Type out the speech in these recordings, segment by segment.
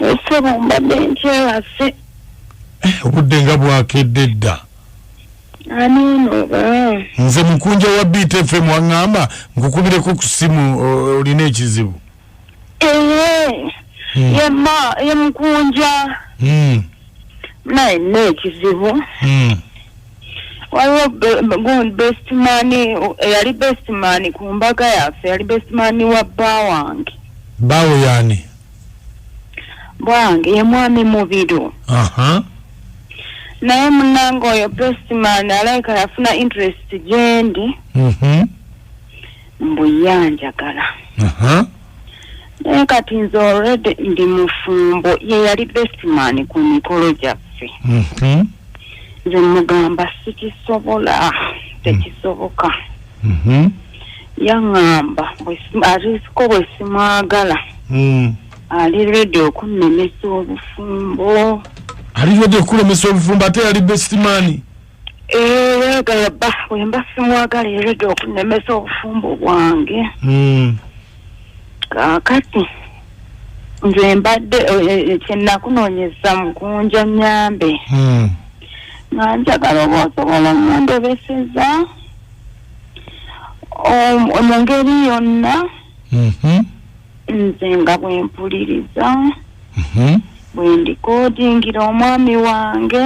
esebo mbadde nkyewase eh, obudde nga bwakedde dda ani ono oba nze mukunja wa btfm waŋŋamba nkukubireko ku simu olina ekizibu ee hmm. yema ye mukunja hmm. naye nina ekizibu hmm. waliwo bestman eyali bestman ku mbaga yaffe yali bestman wa bba wange baawo yaani bwange ye mwami mubiru naye munange oyo bestman alaika yafuna interest gyendi mhm. mbuyanjagala naye kati nze already ndi mufumbo ye yali bestman ku mikolo gyaffe mhm. nze mugamba sikisobola tekisoboka mhm. yaŋamba arisiko bwesimwagala mm. ali redi okunnemesa obufumbo ali redi okulemesa obufumbo ate yali bestimani era gala bba wemba simwagala ereda okunemesa obufumbo bwange hmm. kakati nze mbadde eh, eh, kyenakunonyeza mukunja nyambe hmm. nga njagala oba osobola omundebeseza mu ngeri yonna mhm. nze nga bwempuliriza mhm. bwendikodingira omwami wange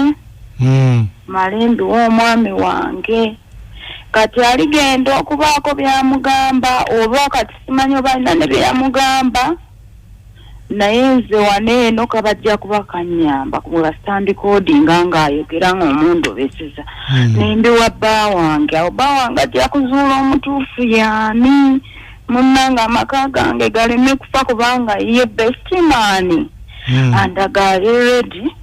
hmm. malembiwa omwami wange kati aligenda okubaako byamugamba oba kati simanyi obalina ne byeyamugamba naye nze wane eno kabajja kuba kanyamba webasitandikoodinga ngaayogera ngaomundobeseza hmm. nembiwa bba wange awo bba wange ajja kuzuula omutuufu yaani munnange amaka gange galeme kufa kubanga ye bestimaani hmm. andagaali redi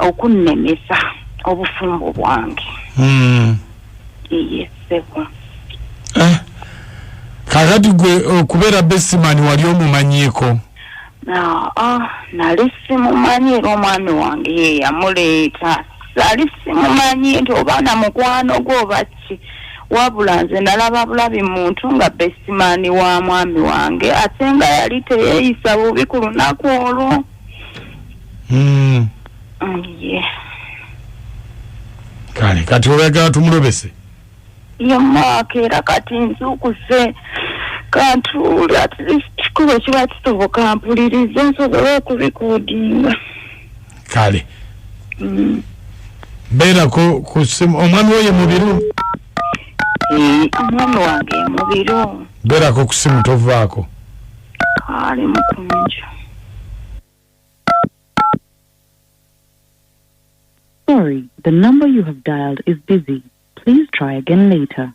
okunnemesa obufumbo bwange hmm. eye sebo eh, kakati gwe okubeera bestimaani wali omumanyiiko ah, nali simumanyi era omwami wange yeyamuleeta sali simumanyi nti oba na mukwano gwe obaki ki wabula nze nalaba bulabi muntu nga bestimani wa mwami wange ate nga yali teyeyisa bubi ku lunaku olwo hmm. mm, kale kati olwagala tumulobese ye maaka era kati nzukuze kantuuli at least kikuba kiba kisoboka mpulirize nsobole okubikodinga kale mm. beerako ku simu omwami oyo mubiru eh, omwami wange mubiru beerako ku simu tovaako ali mukunju Sorry, the number you have dialed is busy. Please try again later.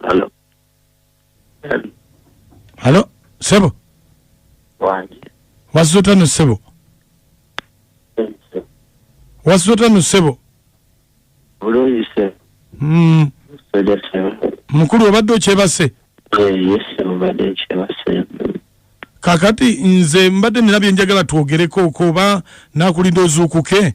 Hello. Hello. Hello. Sebo. Wangi. Wazota no sebo. Wazota no sebo. Bulungi sebo. Mm. Soja sebo. Mukulu obadde okyebase? Eh, yes, sebo obadde okyebase. Kakati nze mbadde nina byenjagala twogereko oba nakulinda ozuukuke.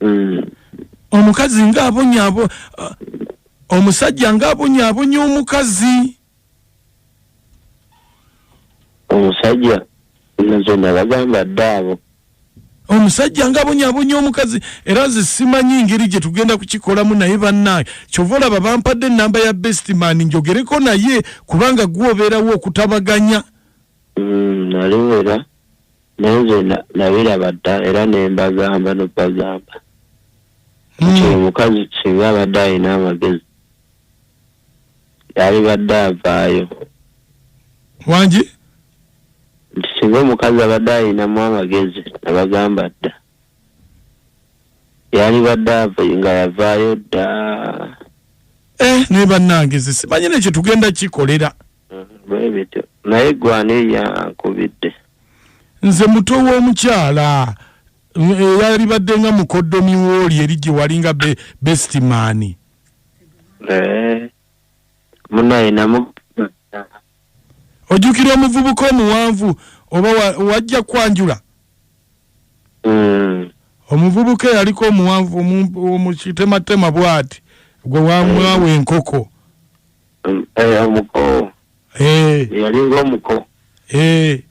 mm. omukazi nga abonyabo uh, omusajja nga abonyabonya omukazi omusajja zona bagamba ddaabo omusajja nga abonyabonya omukazi era nze simanyi ngeri gye tugenda kukikolamu naye bannaye kyova olaba bampadde enamba ya bestman njogereko naye kubanga gwobeerawo okutabaganya mm, naliwera mm, naye nze na- nabiraba dda era ne mbagamba nobazamba nti oyo mukazi singa abadde alina amagezi yalibadde avaayo wangi nti singa omukazi abadde alinamu amagezi nabagamba dda yalibadde ava nga yavaayo dda eh naye bannange ze simanyi nekyo tugenda kikolera bwebityo naye gwani yankubidde nze muto w'omukyala eyalibadde nga mukoddomi wooli eri gye walinga bestimaani eh, munayinamu ojjukira omuvubuka omuwanvu oba wajja kwanjula hmm. omuvubuka eyaliko omuwanvu omukitematema bwati gwe wamwawa enkoko mm. Eh, omuko Eh, yalinga omuko eh,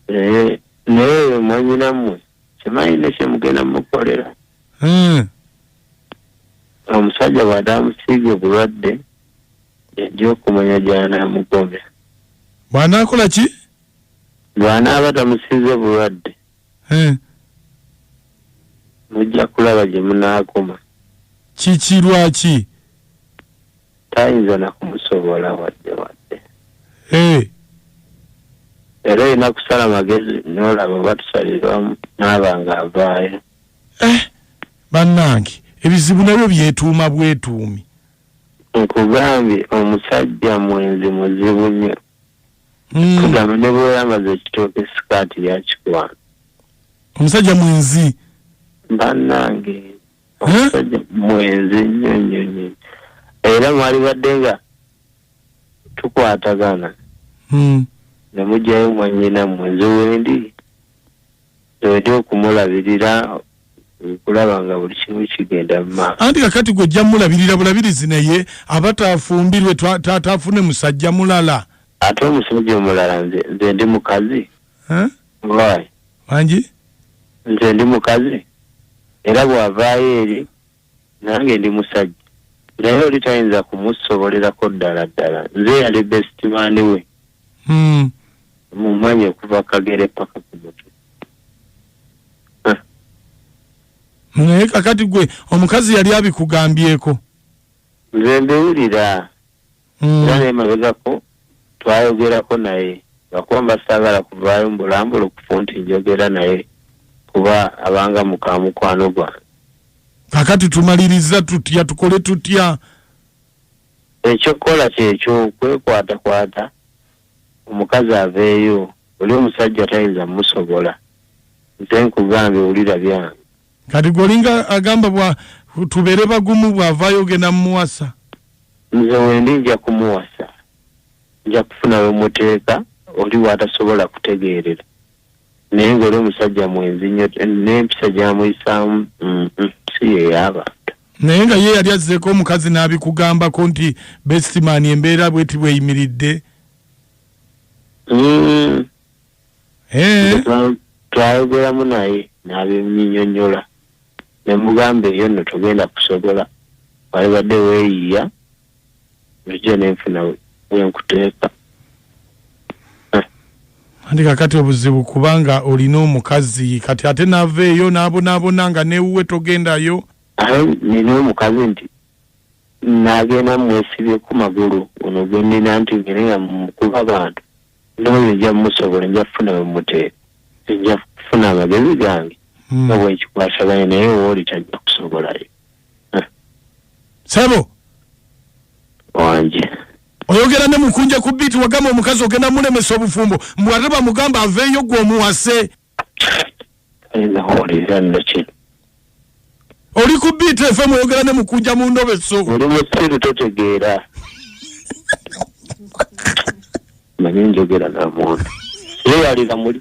Eh, naye mwanyinamwe simanyi ne kyemugenda mukolera mm, omusajja bw'ade amusiiga obulwadde yajja okumanya gy'anaamugobya bw'anaakola ki bw'anaaba tamusiize bulwadde Eh, mujja kulaba gye munaakoma kiki lwaki tayinza nakumusobola wadde wadde eh. era olina kusala magezi nolaba oba tusalirwamu naaba nga avaayo eh, bannange ebizibu nabyo byetuuma bwetuumi nkugambye omusajja mwenzi muzibu nnyo hmm. kugamba ne bweyamaze ekitooka esikaati yakikwana omusajja mwenzi bannange omusajja mwenzi nnyo nnyo nnyo era mwalibadde nga tukwatagana hmm. ne mugyayo mwanyina mwe nze wendi nzewedi okumulabirira kulaba nga buli kimu kigenda mumaaso anti kakati gwe ojja mulabirira bulabirizi naye aba tafumbirwe taatafune musajja mulala ate omusajja omulala nze ndi mukazi Walayi, mangi nze ndi mukazi era bw'avaayo eri nange ndi musajja naye oli tayinza kumusobolerako ddala ddala nze yali besitimaani we Mm. mumanye okuva kagere paka ku mutwe naye kakati gwe omukazi yali abikugambyeko nze mbiwulira mm. era naye mabegako twayogerako naye lwakuba mba saagala kuvaayo mbulambula okufu nti njogera naye kuba abanga muka mukwano gwange kakati tumaliriza tutya tukole tutya ekyokukola kyekyo kwekwatakwata omukazi aveeyo oli omusajja tayinza musobola nze nkugambye wulira byange kati gwolinga agamba bwa tubere bagumu bwavayo ogenda mumuwasa nze wendi nja kumuwasa nja kufuna wemuteeka oli watasobola kutegeerera naye ngaoli omusajja mwenzi nyo nempisa gyamuyisaamu si yeyabantu naye nga ye yali azzeeko omukazi n'abikugambako nti bestimani embeera bweti bweyimiridde mm, Eh, Twa- twayogeramu naye n'abinyinyonyola ne mugamba eyo nno togenda kusobola walibadde weeyiya nzija ne nfuna we- we nkuteeka anti kakati obuzibu kubanga olina omukazi kati ate nava eyo n'abonaabona nga newuwe togendayo aye nina omukazi nti nagenda mwesibye ku magulu ono gwendina nti ngene nga mukuba abantu Ndowoza nja musobola nja kufuna wemute nja kufuna amagezi gange hmm. nga bwenkikwasaganya naye wooli tajja kusobolayo sebo wanje oyogera ne mukunja ku biiti wagamba omukazi ogenda mulemesa obufumbo mbwataba mugamba aveeyo gwe omuwase Ayinza kuwuliriza nno ki? oli ku biiti efe mweyogera ne mukunja mu ndobe so Oli musiru totegeera. Manyi njogera na muntu. Yeeyalira muli.